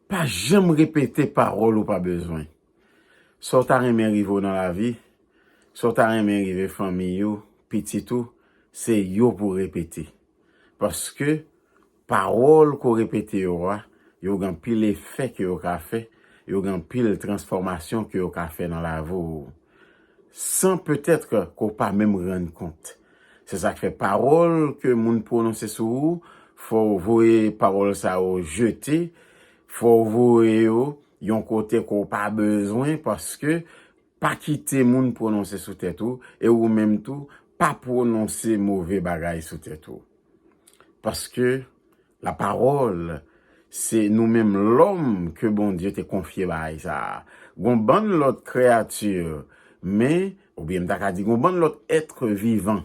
Pa janm repete pawòl ou pa bezwen. Sa w ta renmen rive w nan lavi, sa w ta renmen rive fanmiy ou, pitit ou, se yo pou w repete. Paske, pawòl ke w repete yo a, yo gen anpil efè ke yo ka fè, yo gen anpil transfòmasyon ke yo ka fè nan lavi w. san peut-être ke w pa menm rann kont. Se sa k fè pawòl ke moun pwononse sou ou, fò w voye pawòl sa yo jete, fò w voye yo yon kote ke w pa bezwen paske pa kite moun pwononse sou tèt ou e ou menm tou pa pwononse move bagay sou tèt ou. Paske. La pawòl se nou menm lòm ke Bondye te konfye bagay sa a. Gon bann lòt kreyati, men, oubyen m ta ka di gon bann lòt etre vivan,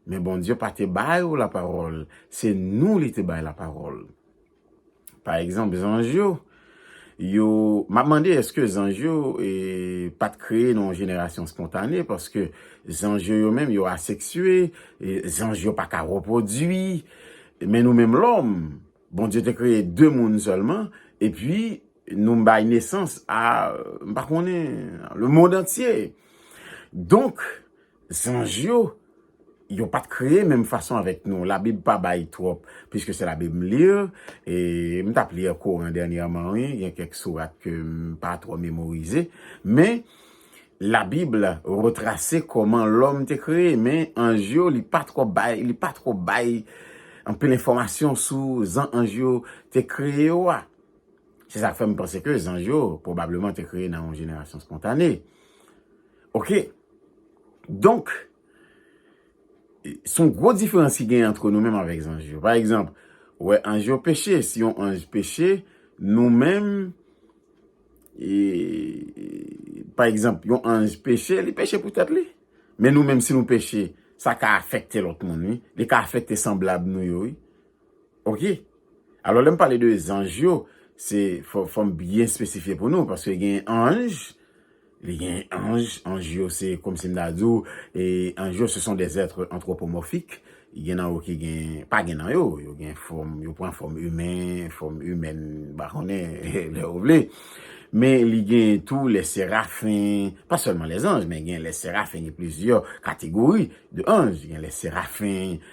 men Bondye pa te ba yo la pawòl, se nou li te bay la pawòl. Pa egzanp, zanj yo, Yo, map mande eske zanj yo e pat kreye nan yon jenerasyon spontane paske zanj yo yo menm yo aseksye, zanj yo pa ka repwodui, men nou menm lòm Bondye te kreye 2 moun sèlman epi nou bay nesans a m pa konnen le mond antye donk Zanj yo, yo pa t kreye menm fason avèk nou. Labib pa bay twòp, piske se labib m li, e m t ap li Koran dènyèman wi, gen kèk sourat ke m pa twò memorize, men labib retrase kòman lòm te kreye, men anj yo li pa twò bay, li pa twò bay anpil enfòmasyon sou zan anj yo te kreye yo a. Se sa k fè m panse ke zanj yo pwobableman te kreye nan yon jenerasyon spontane. Ok, donk, son gwo diferans ki gen antre nou menm avèk zanj yo. Pa egzanp, ou wè anj yo peche, si yon anj peche, nou menm, e, pa egzanp, yon anj peche, li peche pou tèt li. Men nou menm si nou peche, sa ka afekte lòt moun wi, li ka afekte sanblab nou yo wi. Ok alò lèm pale de zanj yo se fòm byen espesifye pou nou paske gen anj li gen anj anj yo se kòm sim ta di ou e anj yo se son de zètre antwopomòfik gen nan yo ki gen pa gen nan yo yo gen fòm yo pran fòm imen fòm imèn mpa konnen lè ou vle men li gen tou lè serafen pa sèlman lè zanj men gen lè serafen gen plizyè kategori de anj gen lè serafen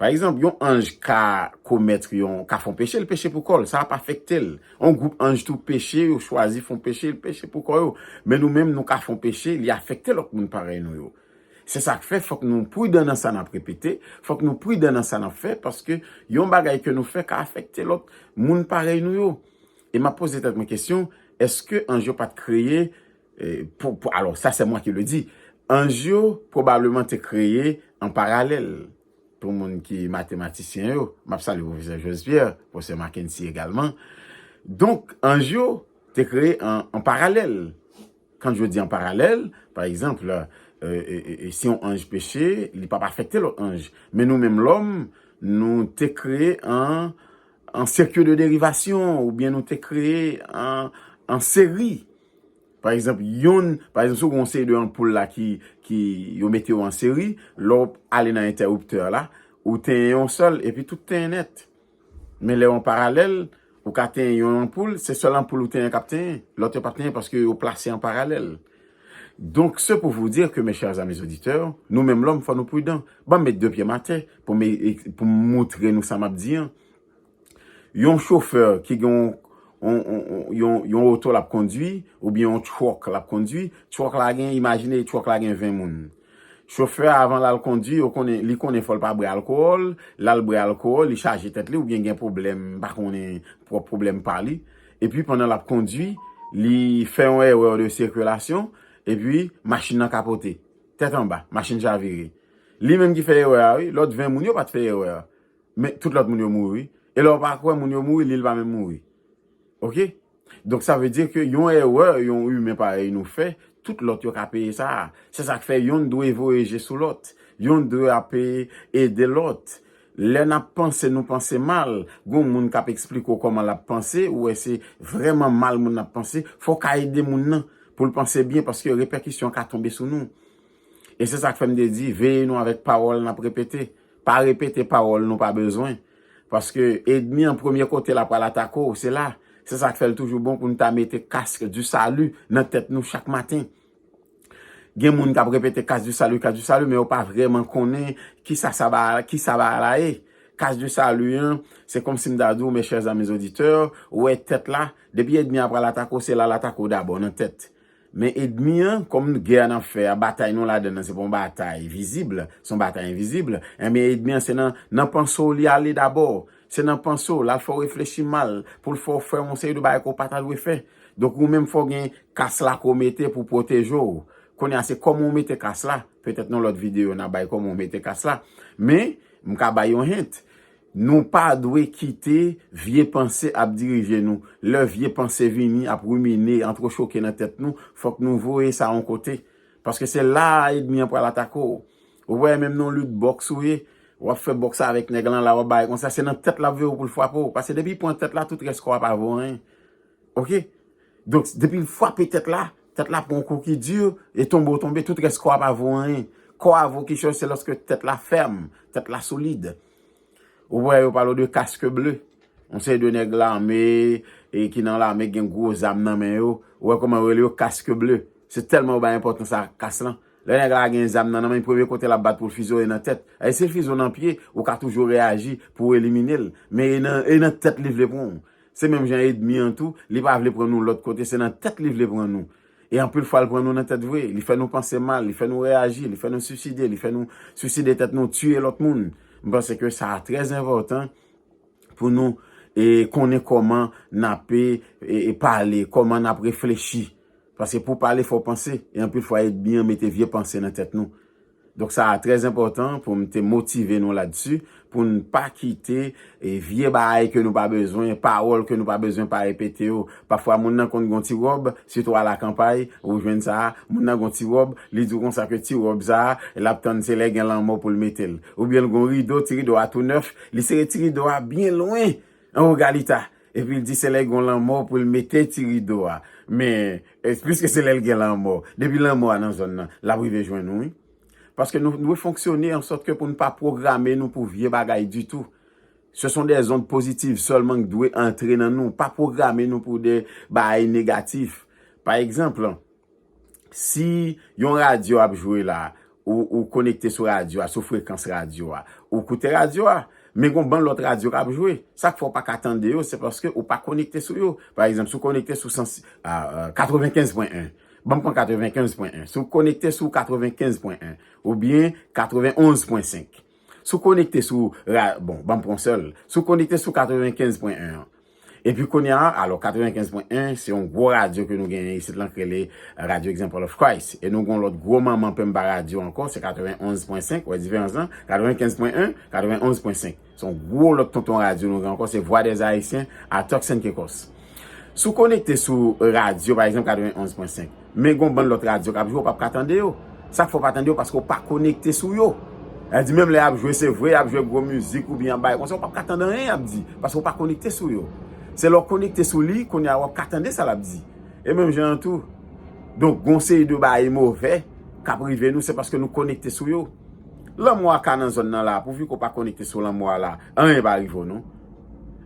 Pa egzanp, yon anj ka komètre yon, ka fon peche, li peche pou kò l, sa ap afekte l. Yon gwoup anj tou peche, yo chwazi fon peche, li peche pou kò yo. Men nou menm, nou ka fon peche, li afekte lòt moun parèy nou yo. Se sa k fè, fòk nou pridan nan sa n ap repete, fòk nou pridan nan sa n ap fè, paske yon bagay ke nou fè ka afekte lòt moun parèy nou yo. E m ap poze tèt mwen kesyon, èske anj yo pa t kreye Alò, sa se mwen ki le di. Anj yo pwobableman te kreye an paralèl. Pou moun ki matematisyen yo, m ap salye Pwofesè Jos Pierre, Pwofesè Mackenty egalman. Donk, anj yo te kreye an paralèl. Kan je di an paralèl, pa egzanp, si yon anj peche, li pa pa afekte lòt anj. Men nou menm lòm, nou te kreye an sirkil de derivasyon, oubyen nou te kreye an seri. Pa egzanp, yonn, pa egzanp, si w gen yon seri de anpoul la ki, ki, yo mete yo an seri, lè w ale nan entèriptè a la, ou tenyen yon sèl, epi tout tenyen nèt. Men lè yo an paralèl, ou ka tenyen yon anpoul, se sèl anpoul ou tenyen k ap tenyen. Lòt yo p ap tenyen paske yo plase an paralèl. Donk, se pou vous dire que, mes chers amis auditeurs, nou menm lòm fò nou pridan. Ban m met de pye m atè pou m, pou m moutre nou sa m ap di an. Yon chofè ki gen yon oto l ap kondwi oubyen yon truck l ap kondwi, truck la gen, imajine truck la gen 20 moun. Chofè a avan l al kondwi, yo konnen, li konnen fò l pa bwè alkowòl, l al bwè alkowòl, li chaje tèt li oubyen gen pwoblèm, m pa konnen, pwòp pwoblèm pa li. Epi pandan l ap kondwi, li fè yon erreur de circulation, epi machin nan kapote. Tèt anba, machin chavire. Li menm ki fè erè a wi, lòt 20 moun yo pa t fè erè a. Men tout lòt moun yo mouri wi. E lè w pa kwè moun yo mouri, li l pa menm mouri. Ok? Donk sa vle di ke yon erè yon imen parèy nou fè, tout lòt yo ka peye sa a. Se sa k fè yonn dwe voye je sou lòt. Yonn dwe ap ede lòt. Lè n ap panse nou panse mal, gon moun k ap esplike w kòman l ap panse, ou wè se vrèman mal moun nan ap panse, fò w ka ede moun nan pou l panse byen paske repèkisyon ka tonbe sou nou. E se sa k fè m te di, veye nou avèk pawòl n ap repete. Pa repete pawòl nou pa bezwen. Paske edmi an premye kote l ap pral atake w, se la. Se sa k fè l toujou bon pou n ta mete casque du salut nan tèt nou chak maten. Gen moun k ap repete casque du salut, casque du salut, men yo pa vrèman konnen ki sa sa bagay la, ki sa bagay la ye. Casque du salut an, se kòmsi m ta di w, mes chers amis auditeurs, ou wè tèt la, depi edmi a pral atake w, se la l atake w dabò, nan tèt. Men edmi an, kòm gè a n ap fè a, batay nou ladan l lan se pa yon batay vizib, se yon batay envizib, enben edmi an se nan panse w li ale dabò, se nan panse w, l al fè w reflechi mal, pou l fè w fè yon seri de bagay ke w pa ta dwe fè. Donk ou menm fò w gen kas la ke w mete pou pwoteje w. Kounye a se kòman w mete kas la, petèt nan lòt videyo n a bay kòman w mete kas la. Men, m ka bay yon hint. Nou pa dwe kite vye panse ap dirije nou. Lè vye panse vini ap rumine, antrechoke nan tèt nou, fòk nou voye sa on kote. Paske se la a edmi an pral atake w. Ou wè menm nan yon lit bòks ou ye, w ap fè bòks avèk nèg lan la, w ap bay konsa, se nan tèt l ap veye w pou l frape w. Paske depi l pran tèt la, tout rès kò a pa vo anyen. Ok? Donk, depi l frape tèt la, tèt la pran yon kou ki di, e tonbe w tonbe, tout rès kò a pa vo anyen. Kò a vo kichòy se lòske tèt la fèm, tèt la solid. Ou wè yo palo de casque bleu. Yon seri de nèg lame, e ki nan lame gen gwo zam nan men yo. Ou wè kòman yo rele yo casque bleu. Se tèlman yo bay enpòtans a kas lan. Lè nèg la gen zam nan nan men, premye kote lap bat pou l fize w e nan tèt. E si l fize w nan pye, ou ka toujou reyaji pou w elimine l. Men e nan, e nan tèt li vle pran w. Se menm jan edmi an tou, li pa vle pran nou lòt kote, se nan tèt li vle pran nou. E anpil fwa l pran nou nan tèt vre, li fè nou panse mal, li fè nou reyaji, li fè nou suiside, li fè nou suiside tèt nou, tiye lòt moun. M panse ke sa a trè enpòtan pou nou konnen kòman n ape pale, kòman n ap reflechi. Paske pou pale fò w panse, e anpil fwa edmi an mete vye panse nan tèt nou. Donk sa a trè enpòtan pou m te motive nou ladsi, pou n pa kite vye baay ke nou pa bezwen, pawòl ke nou pa bezwen pa repete yo. Pafwa moun nan konn gon ti wòb, sitou alakanpay, ou jwenn sa a, moun nan gon ti wòb, li di w konsa ke ti wòb sa a, l ap tann se lè gen lanmò pou l mete l. Oubyen l gon rido, ti rido a tou nèf, li sere ti rido a byen lwen, an wo galita, Epi l di se lè gon lanmò pou l mete ti rido a. Men, piske se lè l gen lanmò. Depi lanmò a nan zòn nan, l ap rive jwenn nou wi. Paske nou dwe fonksyone an sòt ke pou n pa pwograme nou pou vye bagay ditou. Se son des ondes positives sèlman k dwe antre nan nou. Pa pwograme nou pou de baay negatif. Pa egzanp, Si yon radyo ap jwe la, ou konekte sou radyo a, sou frekans radyo a, ou koute radyo a. Men gon bann lòt radyo k ap jwe. Sa k fè ou pa ka tande yo, se paske ou pa konekte sou yo. Pa egzanp, si ou konekte sou 95 pwen 1, banm pran 95 pwen 1, si ou konekte sou 95 pwen 1, oubyen 91 pwen 5. Si w konekte sou, bon, banm pran yon sèl, si w konekte sou 95 pwen 1 an, epi kounye a, alò 95 pwen 1, se yon gwo radyo ke nou genyen isit lan ki rele Radyo Example of Christ, e nou gen yon lòt gwo manman penmba radyo ankò, se 91 pwen 5, wè diferans lan, 95 pwen 1, 91 pwen 5, se yon gwo lòt tonton radyo nou gen ankò, se Vwa dèz Ayisyen a Turks and Caicos. Si w konekte sou radyo, pa egzanp 91.5, men gon bann lòt radyo k ap jwe, ou p ap ka tande yo. Sa k fè ou pa tande yo, paske ou pa konekte sou yo. Sa vle di menm lè y ap jwe, se vre y ap jwe gwo mizik oubyen y ap bay konsèy, ou p ap ka tande anyen y ap di, paske ou pa konekte sou yo. Se lè w konekte sou li, kounye a w ap ka tande sa l ap di. E menm jan an tou, donk gon seri de bagay move k ap rive nou, se paske nou konekte sou yo. Lanmò a ka nan zòn nan la a, pouvi ke w pa konekte sou lanmò a la a. Anyen pa rive w non.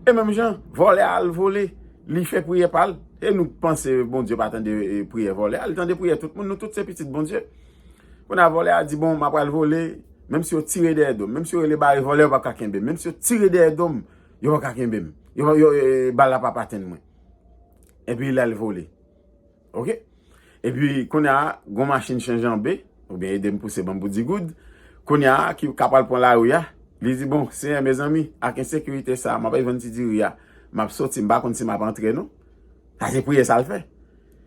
E menm jan, vòlè a al vole, li fè priyè pa l, e nou panse Bondye pa tande priyè vòlè a, li tande priyè tout moun, nou tout se pitit Bondye. Kounye a vòlè a di, bon, m ap al vole, menm si yo tire dèyè do m, menm si yo rele bare vòlè, yo pa p ka kenbe m, menm si yo tire dèyè do m, yo pa p ka kenbe m, bal la pa p atenn mwen. Epi l al vole. Ok Epi kounya gon machin chen janbe oubyen edem pouse banm pou di goud kounya ki ka pral pran lari a li di bon senyè mezanmi ak ensekirite sa map al vann ti diri a map soti mpa konn si map antre non sa se priyè sal fè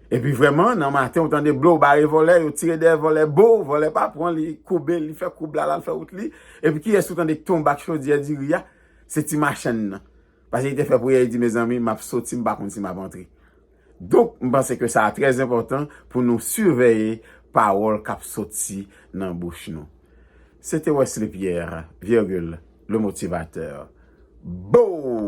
epi vrèman nan maten ou tande blow bare vòlè yo tire dèyè vòlè boo vòlè pa pran li koube li fè koub la lal fè wout li epi kiyès ou tande k tonbe ak chodyè diri a se ti machann nan pase li te fè priyè li di mezanmi map soti mpa konn si map antre. Donk, m panse ke sa trè enpòtan pou nou siveye pawòl k ap soti nan bouch nou. Se te Wesley Pierre, virgule, le motivateur. Boo!